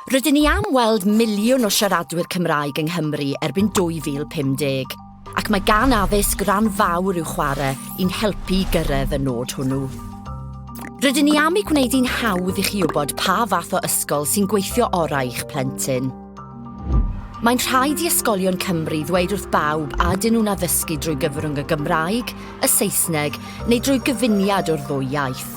Rydyn ni am weld miliwn o siaradwyr Cymraeg yng Nghymru erbyn 2050, ac mae gan addysg ran fawr i'w chwarae i'n helpu i gyrraedd y nod hwnnw. Rydyn ni am ei gwneud hi'n hawdd i chi wybod pa fath o ysgol sy'n gweithio orau i'ch plentyn. Mae'n rhaid i ysgolion Cymru ddweud wrth bawb a dyn nhw'n addysgu drwy gyfrwng y Gymraeg, y Saesneg neu drwy gyfuniad o'r ddwy iaith.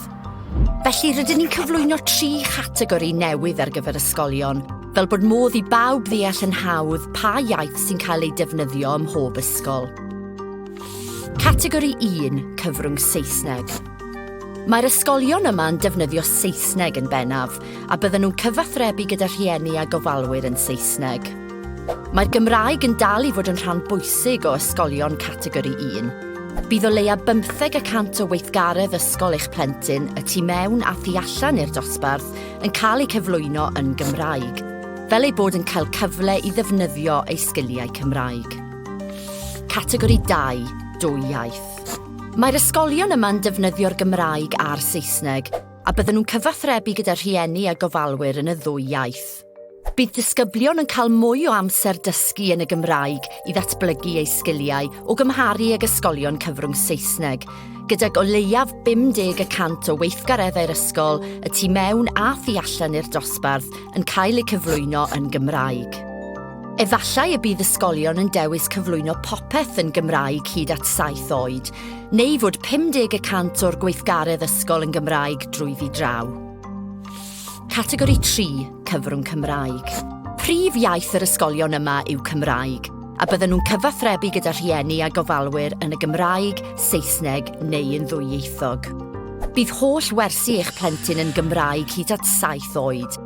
Felly, rydyn ni'n cyflwyno tri chategori newydd ar gyfer ysgolion, fel bod modd i bawb ddeall yn hawdd pa iaith sy'n cael ei defnyddio ym mhob ysgol. Categori 1, cyfrwng Saesneg. Mae'r ysgolion yma yn defnyddio Saesneg yn bennaf, a bydden nhw'n cyfathrebu gyda rhieni a gofalwyr yn Saesneg. Mae'r Gymraeg yn dal i fod yn rhan bwysig o ysgolion Categori 1. Bydd o leia bymtheg y cant o weithgaredd ysgol eich plentyn, y tu mewn a thu allan i'r dosbarth, yn cael eu cyflwyno yn Gymraeg, fel eu bod yn cael cyfle i ddefnyddio eu sgiliau Cymraeg. Categori 2, Dwy Iaith. Mae'r ysgolion yma'n defnyddio'r Gymraeg a'r Saesneg, a bydden nhw'n cyfathrebu gyda rhieni a gofalwyr yn y ddwy iaith. Bydd disgyblion yn cael mwy o amser dysgu yn y Gymraeg i ddatblygu eu sgiliau o gymharu ag ysgolion cyfrwng Saesneg, gydag o leiaf 50 y cant o weithgareddau'r ysgol, y tu mewn a thu allan i'r dosbarth, yn cael eu cyflwyno yn Gymraeg. Efallai y bydd ysgolion yn dewis cyflwyno popeth yn Gymraeg hyd at saith oed, neu fod 50 y cant o'r gweithgaredd ysgol yn Gymraeg drwyddi draw. Categori 3, Cyfrwng Cymraeg. Prif iaith yr ysgolion yma yw Cymraeg, a bydden nhw'n cyfathrebu gyda rhieni a gofalwyr yn y Gymraeg, Saesneg neu yn ddwyieithog. Bydd holl wersi eich plentyn yn Gymraeg hyd at saith oed.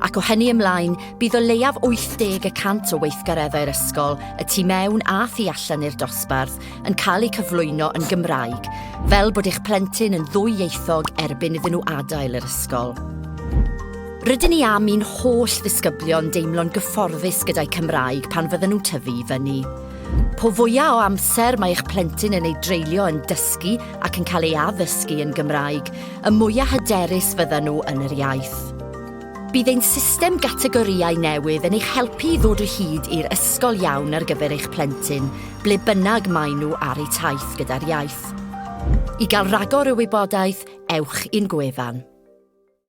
Ac o hynny ymlaen, bydd o leiaf 80 y cant o weithgareddau'r ysgol, y tu mewn a thu allan i'r dosbarth, yn cael eu cyflwyno yn Gymraeg, fel bod eich plentyn yn ddwyieithog erbyn iddyn nhw adael yr ysgol. Rydyn ni am i'n holl ddisgyblion deimlo'n gyfforddus gyda'i Cymraeg pan fydden nhw'n tyfu i fyny. Po fwyaf o amser mae eich plentyn yn ei dreulio yn dysgu ac yn cael ei addysgu yn Gymraeg, y mwyaf hyderus fydden nhw yn yr iaith. Bydd ein system gategorïau newydd yn eich helpu i ddod o hyd i'r ysgol iawn ar gyfer eich plentyn, ble bynnag maen nhw ar eu taith gyda'r iaith. I gael rhagor o wybodaeth, ewch i'n gwefan.